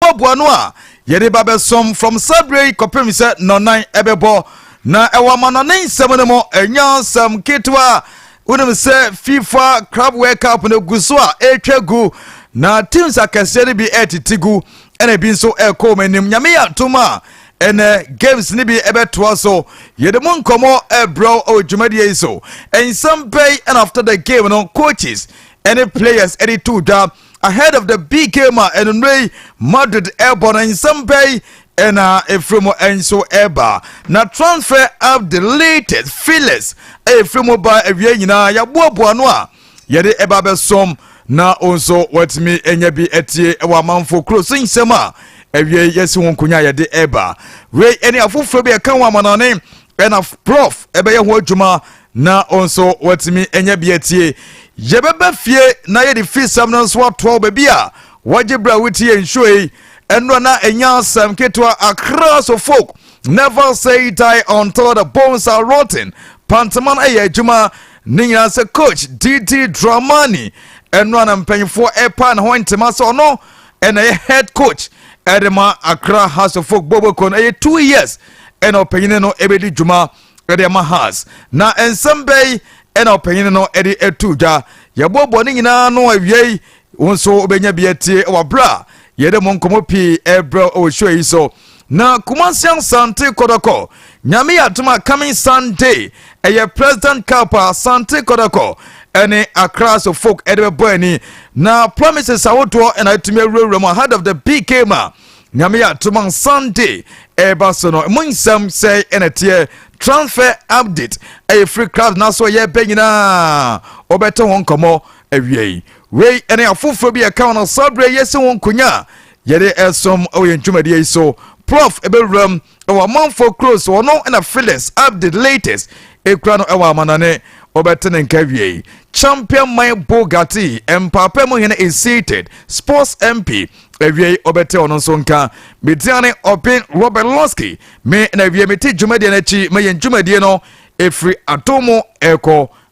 yɛboaboa no a yɛde ba bɛsom from saa berɛ yi kɔpem sɛ nɔnan ɛbɛbɔ na ɛwɔ amanɔne nsɛm no mu ɛnyɛ asɛm ketewa wonim sɛ fifa crab world cup no gu so a ɛretwa gu na teams akɛseɛ no bi ɛretete gu ɛna ebi nso ɛrekɔ wɔn anim nyame yɛ atom a ɛnɛ games no bi ɛbɛtoa so yɛde mu nkɔmmɔ ɛbrɛw ɛwɔ dwumadie yi so nsɛm bɛyi and after the game no coaches ɛne players ɛde to dwa Ahead of the big game a anwummerɛ yi Madrid ɛrebɔ no, nsɛm bɛn na ɛfiri mu nso ɛreba? Na transfer of the latest feelers a ɛfiri mu ba awie nyinaa yɛaboaboa no a yɛde ɛba bɛsom na wo nso watumi anya bi atie wɔ amanfo kuro so nsɛm a awie yɛsi ho nkonya a yɛde ɛreba wei ɛne afoforɔ bi ɛka ho amanɔne ɛna prof ɛbɛyɛ ho adwuma na wo nso woatumi anya bi atie. Yɛbɛba fie na yɛde fisɛm no nso atoa wo baabi a wɔgye berɛ a wotie yɛn show yi. Ɛnora na ɛnya asɛm ketewa akra so folk never say die until the bones are rotten panteman ɛyɛ adwuma ne nyinaa sɛ coach didi dramani ɛnora na mpanyinfoɔ ɛpa ne ho ntoma sɛ ɔno ɛna ɛyɛ head coach ɛde ma akra house of folk boboko no ɛyɛ two years ɛna ɔpanyini no ɛbɛdi dwuma ɛde ama has na nsɛm bɛyi ɛna ɔpanyin no ɛde ɛtu dwa yɛboaboa ne nyinaa no awiei wo nso wobɛnya bi atie wɔ berɛ a yɛde mo nkɔmmɔ pii ɛbrɛ wɔ show yi so na kumasi asante kɔdɔkɔ nyame yɛ adoma coming sunday ɛyɛ president cup asante kɔdɔkɔ ɛne akra so folk ɛde bɛbɔ ani na promises ahodoɔ ɛna atumi awurawura mu ahead of the big game a nyame yɛ atom a sunday ɛreba so no mo nsɛm sɛ ɛna teɛ transfer update ɛyɛ free club na so ɛyɛ bɛ nyinaa wɔbɛte ho nkɔmmɔ awiei wei ɛne afoforɔ bi ɛka wɔn sɔberɛ yɛsi ho nkonya yɛde ɛsom wɔ yɛn dwumadie yi so prof ɛbɛwuram ɛwɔ amanfoɔ kuro so ɔno na Phyllis update latest ekura no ɛwɔ amanɔne ɔbɛte ne nka wiei champion man Bugatti mpaapa mu hene is seated sports MP awiei ɔbɛte ɔno nso nka mediane ɔben Robert Losky me na awie mete dwumadie no akyi ma yɛn dwumadie no ɛfiri adomo ɛkɔ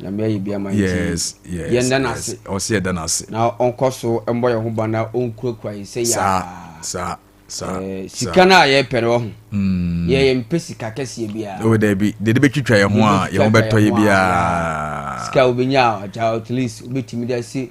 nyame ayɛ bi ama nti yɛnda no ase ɔsɛ yɛda no ase na ɔnkɔ so mbɔ yɛn ho ba na ɔnkurakura yɛn sɛ yɛa sika no a yɛpɛ no ɔho hmm. yɛyɛ mpɛ sika kɛseɛ biara dabi deɛ de bɛtwitwa yɛn ho a yɛn ho bɛtɔ yɛ biara sika wobɛnya agya at least wobɛtumi de ase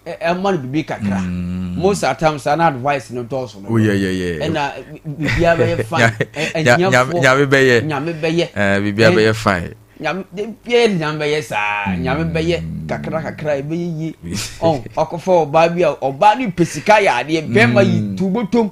ɛma no biribi kakra mm. most of time saa na advice no dɔɔso no oh, ɛna biribiara bɛyɛ fine nyame bɛyɛ nyame bɛyɛ eh, biribiara bɛyɛ fine nyame bɛyɛ nyame bɛyɛ saa mm. nyame bɛyɛ kakra kakra ɛbɛyɛ yie ɔkɔfa ɔbaa bi a ɔbaa no pɛ sika yɛ adeɛ bɛrima yi mm. tubotom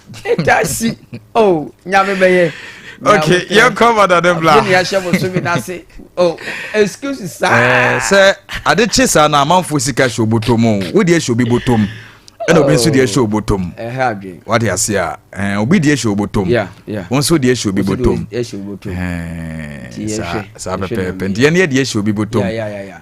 Etasi oh nyame bɛyɛ. Okay, yɛn kɔ ma dade bla. Ɛni ahyɛ mo so mi na se oh excuse sa. Ɛɛ sɛ ade kye saa na amanfo sika hyɛ obotom o, wo deɛ hyɛ obi botom ɛna obi nso deɛ hyɛ oh. obotom. Ɛhɛ adwene. Wate ase a ɛɛ eh, obi deɛ hyɛ obotom. Yeah yeah. Wɔn nso deɛ hyɛ obi botom. Ɛhyɛ obotom. Ɛɛ saa saa pɛpɛɛpɛ nti yɛn deɛ hyɛ obi botom. Yeah yeah yeah.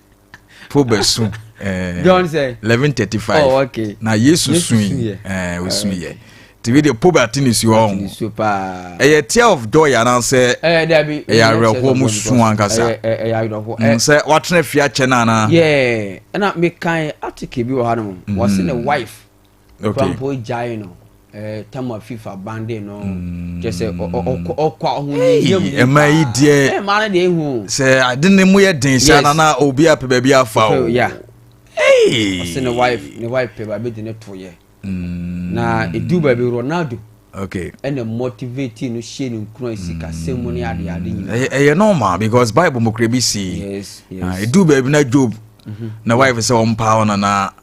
po bɛso eh, john sɛ 1135 oh, okay. na yesu sui ɔsuiɛ eh, nti bi deɛ po bɛate ne suo ɔho ɛyɛ tear of joy anaasɛ ɛyɛ awerɛhoɔ mu so ankasa mm, sɛ watena fie akyɛ no anaa ɛna mekae article bi wɔ ha no mu wɔse ne wife kura mpo gyae no eh, tam a fifa bande no mm. kyɛ sɛ ɔkɔ ahoyɛyɛ mu ɛma yi deɛ ɛma no deɛ ehu sɛ ade ne mu yɛ den sɛ nana obi apɛ baabi afa o ya ɔsɛ ne wife ne wife pɛ baabi de ne to yɛ mm. na edu baabi ronaldo okay ɛna motivate no hyɛ no nkura sikasɛm mu ne adeade nyinaa ɛyɛ normal because bible mu kura bi si ah, edu baabi na job mm-hmm. na wife sɛ ɔmpaa ɔnana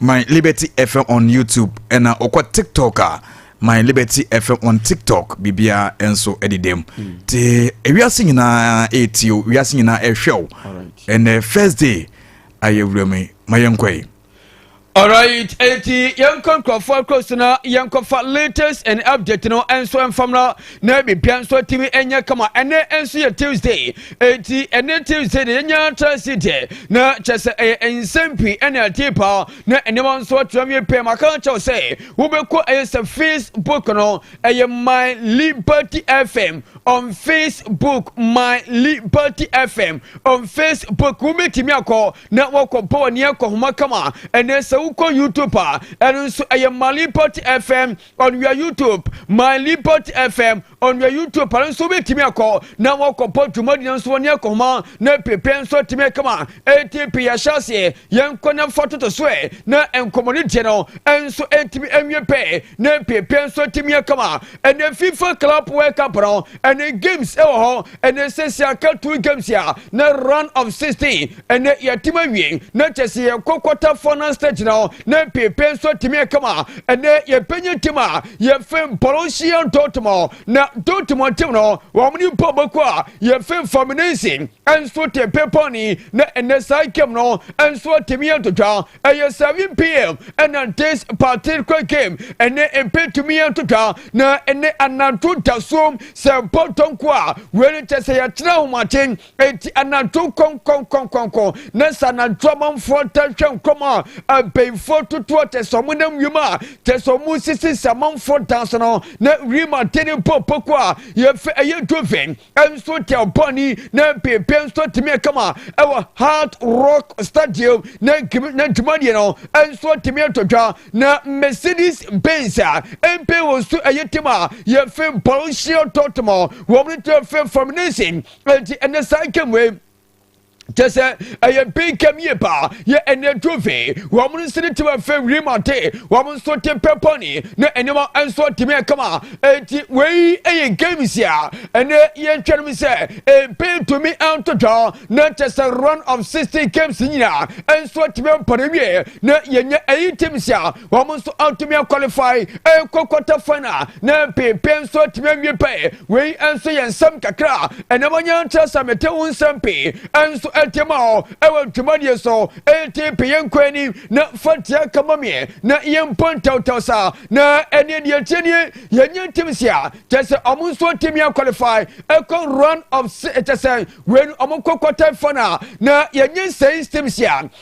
my liberty fm on youtube ɛna ɔkɔ tiktok a my liberty fm on tiktok biribiara nso ɛdedam hmm. te ewiase nyinaa ɛretio eh, wiase nyinaa ɛrehwɛ eh, o ɛnɛ eh, first day ayɛ wura mu ma yɛnkɔ yi alright eti yɛnkɔ nkurɔfoɔ akuro so na yɛnkɔfa latest and update no nso mfam no na biribiara nso atumi anya kama ɛnɛ nso yɛ tuesday eti ɛnɛ tuesday deɛ yɛnya trase deɛ na kyɛ sɛ ɛyɛ nsɛm pii ɛna ɛte paa na nneɛma nso atra wie pɛɛ maka kyɛw sɛ wobɛkɔ ɛyɛ sɛ facebook no ɛyɛ my liberty fm on facebook my liberty fm on facebook wobɛtumi akɔ na wɔkɔ bɔ wɔ neɛ kɔhoma kama ɛnɛ sɛ wokɔ youtube a ɛno nso ɛyɛ my liberty fm on your YouTube, my Lipot FM on your YouTube pare nso wobɛtumi akɔ na wɔkɔpɔ dwumadi no nso wɔne akɔhoma na pepe nso atumi kama ɛti pe yɛhyɛ aseɛ yɛnkɔ na fa toto so ɛ na nkɔmmɔ no deɛ no nso ɛtumi awie pɛ na pepe nso atumi akama ɛnɛ FIFA Club World Cup no ɛnɛ games ɛwɔ hɔ ɛnɛ sɛsi aka two games a na round of 16 Ɛnɛ yɛatim awie, na kyɛ sɛ yɛn kɔkɔtafoɔ no nsa gyina hɔ, na mpeepee nso atumi aka ma ɛnɛ yɛpanyin tim a yɛfem Borussia Dortmund. Na Dortmund tim no, wɔn ne mpo bɛko a yɛfem Fluminense nso te bepɔ ne, na ɛnɛ saa game no nso atumi atotwa. Ɛyɛ 7 pm ɛna this particular game ɛnɛ ɛbɛtumi atotwa, na ɛnɛ anadwo da so sɛ bɔtɔ nko a, wei ne kyɛ sɛ yɛkyerɛ ahomakye. Enti anantu kɔnkɔnkɔnkɔnkɔn na sɛ anantu amanfoɔ ta hwɛ nkɔm a abenfoɔ totoɔ kyɛ sɛ ɔmo nam wiem a kyɛ sɛ ɔmo sisi sɛ amanfoɔ dan so no na wiem ate ne bɔ poko a yɛfɛ ɛyɛ dove nso tɛ ɔbɔni na bebe nso tumi ɛkama ɛwɔ hard rock stadium na gim na dwumadie no nso tumi ɛtɔ dwa na mercedes benz a mpe wɔ so ɛyɛ tim a yɛfɛ borussia dortmund wɔn ne tɛ fɛ fam nation Enti ɛnɛ saa nkem wei kyɛ sɛ ɛyɛ mpenkam yie paa yɛ ɛnɛ ntufe wɔn nso ne tewa fɛ wirim ate wɔn nso te pɛpɔne ne nneɛma nso tumi ɛkama eti wei ɛyɛ games a ɛnɛ yɛntwɛn mu sɛ mpen tumi antotwa na kyɛ sɛ run of sixty games nyinaa nso tumi mpɔne wie na yɛnyɛ ɛyi teams a wɔn nso antumi akwalifai ɛkɔ kɔta fan a na mpepe nso atumi awie pɛɛ wei nso yɛ nsɛm kakra a ɛnam ɔnyɛ nkyerɛ sɛ mete ho nsɛm pii nso ɛte ma ɔ ɛwɔ dwumadie so ɛte pe yɛn nkɔ anim na fatia kama meɛ na yɛn mpɔ ntawtaw saa na ɛne deɛ ɛkyɛ nie yɛnyɛ ntim si a kyɛ sɛ wɔn nso atumi akwalifai ɛkɔ run of kyɛ sɛ wei no wɔn kɔ kɔta fan a na yɛnyɛ nsɛn stem si a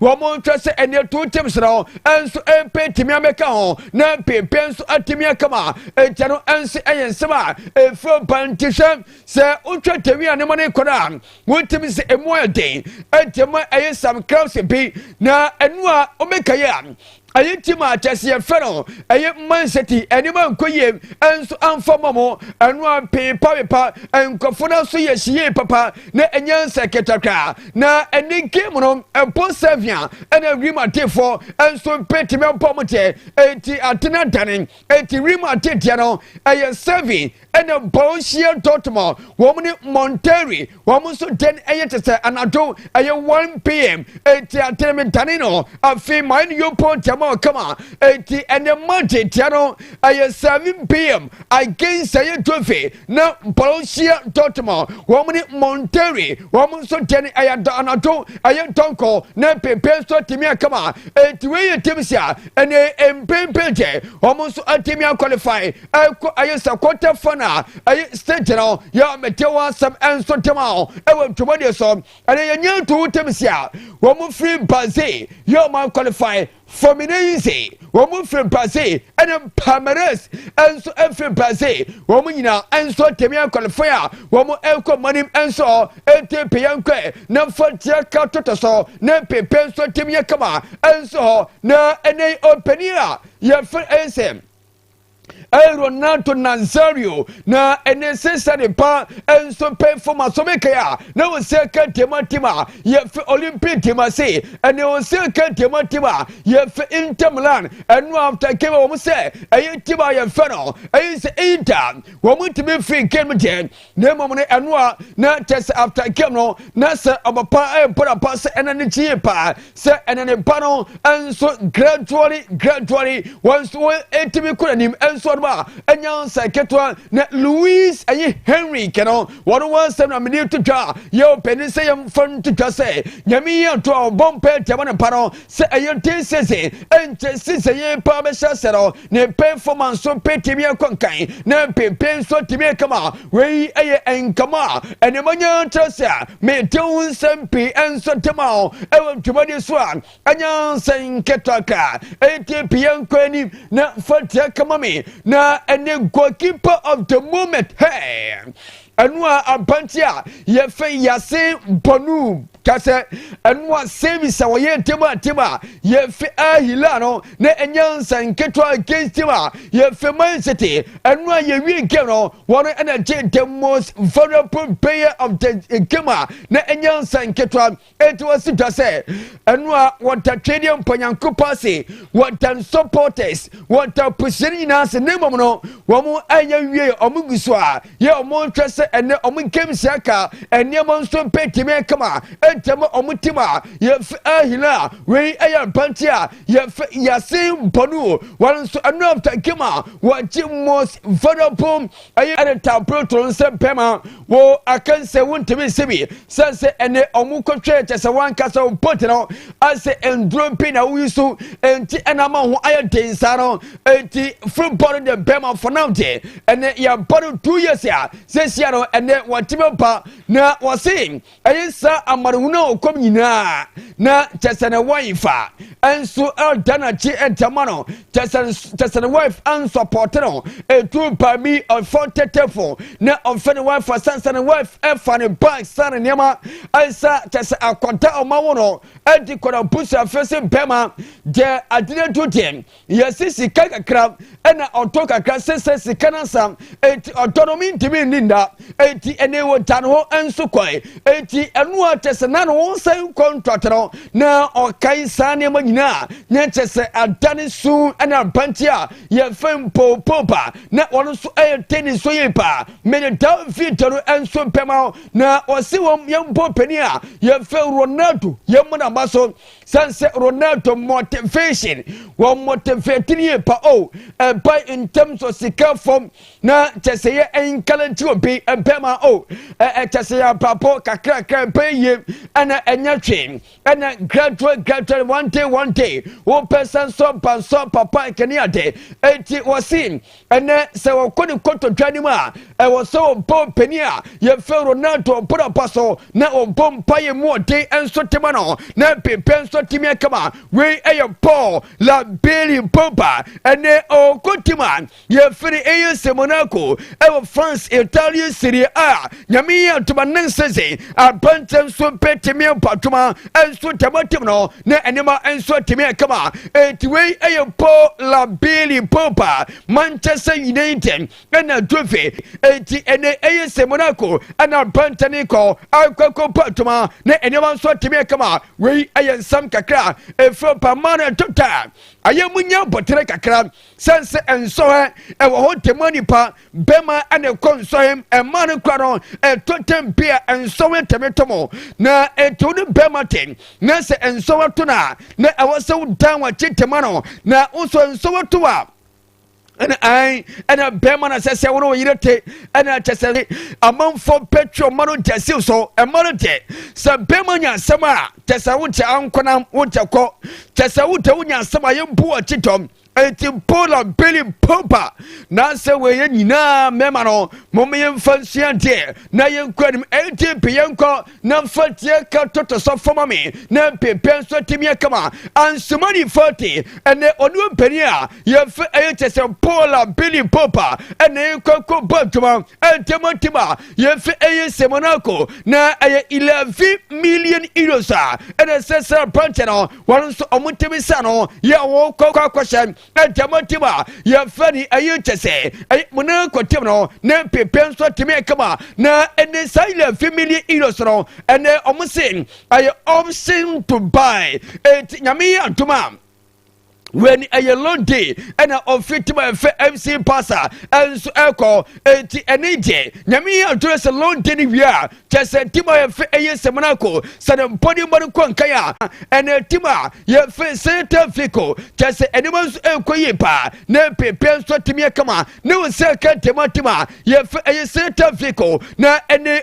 Wɔnhwɛ sɛ ɛnneɛ too Tim serɛ ho nso mpe tumi amɛka ho na mpeempee nso atumi akama nkyɛ no nso ɛyɛ nsɛm a ɛfiri ɔba nti hwɛ sɛ wotwa tɛwi a ne ma no kɔrɔ a wotumi sɛ ɛmu ayɛ den nti ma ɛyɛ some crowds bi na ɛno a wobɛka yɛ a Ɛyi nti ma akyɛseɛ fɛ no ɛyɛ mma nsɛti nneɛma nkɔ yie nso amfa mɔ mo ɛno a mpeepapepa nkurɔfoɔ no so yɛ hyiyie papa na ɛnyɛ nsɛ ketakra na ɛne game no ɛbɔ sɛvia ɛna wirim atefoɔ nso mpɛ tumi abɔ mo kyɛ enti atena dane enti wirim ateteɛ no ɛyɛ sɛvi ɛna Borussia Dortmund wɔn ne Monterrey wɔn nso dɛn ɛyɛ te sɛ anadwo ɛyɛ 1 pm eti atenimidane no afei mayɛ no yopɔ ntiama ɔkama eti ɛnɛ Monday tia no ɛyɛ 7 pm against ɛyɛ Dove na Borussia Dortmund wɔn ne Monterrey wɔn nso dɛn ɛyɛ anadwo ɛyɛ dɔnkɔ na pempe nso atumi akama eti wei yɛ team si a ɛnɛ mpempe deɛ wɔn nso atumi akɔlifai ɛkɔ ɛyɛ sɛ kɔtɛ fa na ɛyɛ stage no yɛ mete wɔ asɛm ɛnso tem a ɛwɔ ntwomɔdeɛ so ɛne yɛ nyɛ nto wo tem si a wɔn mo firi baze yɛ wɔn akɔlifai fomine yi se wɔn mo firi baze ɛne pamares ɛnso ɛfiri baze wɔn mo nyinaa ɛnso temi akɔlifai a wɔn mo ɛkɔ mɔnim ɛnso ɛte pe yɛn kɔ na fa tia ka toto so ne pepe nso tem yɛ kama ɛnso na ɛne ɔpanin a yɛfiri ɛsɛ Renato Nazario na ɛne sesa ne pa nso pɛ fam asɔmekɛe a na ɔsɛ kɛntɛma tim a yɛfɛ Olympic tim ase ɛne ɔsɛ kɛntɛma tim a yɛfɛ Inter Milan ɛno after kɛmɛ wɔn sɛ ɛyɛ tim a yɛfɛ no ɛyɛ sɛ Inter wɔn tumi firi kɛm gyɛ na mmom no ɛno a na kyɛ sɛ after game no na sɛ ɔba pa ɛmpa na pa sɛ ɛna ne kyi yie paa sɛ ɛna ne ba no nso gradually gradually wɔn nso wɔn ɛtumi kɔ n'anim nso ɔno a ɛnya nsa ketewa na louis ɛyi henry kɛnɛ wɔn wɔn nsɛm na mene to dwa yɛ ɔpɛni sɛ yɛn fa no to dwa sɛ nyame yi ato a ɔbɔ mpɛ tiama ne pa no sɛ ɛyɛ ten season ɛnkyɛ season yɛ paa bɛhyɛ sɛ no ne mpemfoma nso mpe tumi kɔ nkan na mpempe nso tumi kama wei yɛ nkama a ɛne manya kyerɛ sɛ mete ho nsɛm pii nso de ma wo ɛwɔ dwumadi so a ɛnyɛ nsɛ nketewa ka ɛti pii nkɔ anim na fa tia kama me na ɛne goalkeeper of the moment hey Ɛno a ampa nti a yɛfɛ yɛase bɔnu kasɛ ɛno a sɛmi sɛ wɔyɛ ntɛm a ntɛm a yɛfɛ ahila no na ɛnyɛ nsa nketewa against team a yɛfɛ man city ɛno a yɛwie game no wɔn ɛna gye the most vulnerable player of the game a na ɛnyɛ nsa nketewa Enti wɔsi dwa sɛ ɛno a wɔda twedeɛ mpo Nyankopɔn ase, wɔda supporters, wɔda apusuani nyinaa ase, na mmom no wɔn ayɛ wie wɔn gu so a yɛ wɔn nhwɛ sɛ ɛnɛ wɔn games aka nneɛma nso bɛtumi akama ɛntɛm wɔn tim a yɛfɛ ahila a wei ɛyɛ abante a yɛfɛ yasin bɔnu wɔn nso ɛno after game a wɔgye most valuable Ɛyɛ ne tamprotoo nsɛm pɛ ma wo akansɛ wontumi nse bi sɛ sɛ ɛne ɔmo kɔtwɛɛ kyɛ sɛ wankasa wo mpo te no asɛ nduro mpe na wo yusu nti ɛna ama wo ho ayɛ den saa no nti firi bɔ no de bɛ ma fanam te ɛne yɛ bɔ no two years a sɛsia no ɛne wɔte bɛ ba na wɔse Ɛyɛ saa amanehunu a ɔkɔm nyinaa na kyɛsɛne wife fa nso ɛda n'akyi ɛdɛma no kyɛsɛne wife ansɔpɔte no etu paa bi ɔfɔ tɛtɛfo na ɔfɛ ne wife asansa ne wife ɛfa ne bag san ne nneɛma ɛsa kyɛsɛ akɔda ɔma wo no ɛdi kɔ na busu afɛ se bɛma deɛ adina du deɛ Yɛsi sika kakra ɛna ɔtɔ kakra sɛsɛ sika no asam eti ɔtɔ no mintimi nni nda eti ɛne wɔ gya no ho nso kɔe eti ɛno a kyɛ sɛ na ne ho nsa nkɔ ntɔte no na ɔkae saa nneɛma nyinaa na kyɛ sɛ ada ne su ɛne abanti a yɛfɛ mpoopopa na wɔn nso ɛyɛ teni so yie paa mede daa video no nso bɛma na wɔsi wɔn yɛn bɔ panin a yɛfɛ Ronaldo yɛn mu na ma so Sanse Ronaldo motivation wɔ motivating yie pa o oh, ɛba eh, in terms of sika fam na kyɛ sɛ yɛ encourage obi bɛma o oh, ɛɛ eh, kyɛ sɛ yɛ abrabɔ kakrakra ɛbɛyɛ yie ɛna ɛnyɛ hwee ɛna gradual gradual one day one day wopɛ sɛ nsɔ ba nsɔ papa ɛkɛne ade eti wɔsi Ɛnnɛ, sɛ wɔkɔ ne kotodwe anim a, ɛwɔ sɛ wɔbɔ ɔpanin a yɛfrɛ Ronaldo ɔbɔdapa so na wɔbɔ mpaeɛ mu ɔden nso de ma no, na afei pɛ nso atumi aka ma wei yɛ Paul Labili Pogba. Ɛnnɛ, ɔwɔ tim a yɛfrɛ no AS Monaco wɔ France, Italian Serie A nyame yi atoma ne nsese apɛntɛ nso bɛtumi abɔ adwuma nso tɛmɔtem no ne nneɛma nso atumi akama enti wei ɛyɛ po labili popa manchester united ɛna juve enti ɛnɛ ɛyɛ sɛ monaco ɛna apɛntɛ ne kɔ akɔkɔ bɔ adwuma ne nneɛma nso atumi akama wei ɛyɛ nsɛm kakra ɛfiri pa ma no ɛtota ayɛ mu nya bɔtere kakra sɛn sɛ ɛnsɔhɛ ɛwɔ hɔ tɛmɔ nipa Bɛma ɛne nkɔ nsɔhe mmaa no kura no ɛtɔ tɛm bi a nsɔhe tɛme to mo na ɛto ne bɛma te na sɛ nsɔhe to no a na ɛwɔ sɛ wodan wakye tɛma no na wosɔ nsɔhe to a ɛna an ɛna bɛrima na sɛ sɛ wɔn wɔyere te ɛna kyɛ sɛ amanfoɔ pɛtwi ɔma no gya siw so ɛma no deɛ sɛ bɛrima nya asɛm a kyɛ sɛ wokyɛ ankonam wokyɛ kɔ kyɛ sɛ wotɛ wonya asɛm a yɛbu ɔkye tɔm Enti mpo na Billy mpo ba na sɛ wɔyɛ nyinaa mɛma no mom yɛmfa nsua deɛ na yɛnkɔ anim enti mpe yɛnkɔ na mfa tie ka toto so fama me na mpe pɛ nso timi akama ansomani fati ɛnɛ ɔne ɔmpani a yɛmfa ɛyɛ kyɛ sɛ mpo na Billy mpo ba ɛnɛ yɛnkɔ nkɔ bɔ adwuma ɛntɛmɔntɛm a yɛmfa ɛyɛ nsɛmɔ no akɔ na ɛyɛ 11 million euros a ɛnɛ sɛ sɛ aberanteɛ no wɔn nso wɔn tumi sa no yɛ wɔn kɔkɔkɔhyɛ ɛnkyɛn mo tim a yɛfɛ ni ɛyi kyɛ sɛ ɛyɛ mo ne kɔtɛm no ne pepe nso tumi ɛkama na ɛne saa yɛ fi mili ilo so no ɛnɛ wɔn se ɛyɛ option to buy eti nyame yi adoma wɛni ɛyɛ long day ɛna ɔfi tim a ɛfɛ mc pasa ɛnso ɛkɔ eti ɛne gye nyame yi adoma sɛ long day ni wia. Kyɛ sɛ tim a yɛfe ɛyɛ samina ko, sɛ ne mpɔne mmɔ no kɔ nkan a, ɛnna tim a yɛfe sɛn taa fi ko. Kyɛ sɛ nneɛma nso ɛrekɔ yie paa, na mprempren nso atumi akama, ne wo sɛ kɛntɛnma tim a yɛfe ɛyɛ sɛn taa fi ko, na ɛne.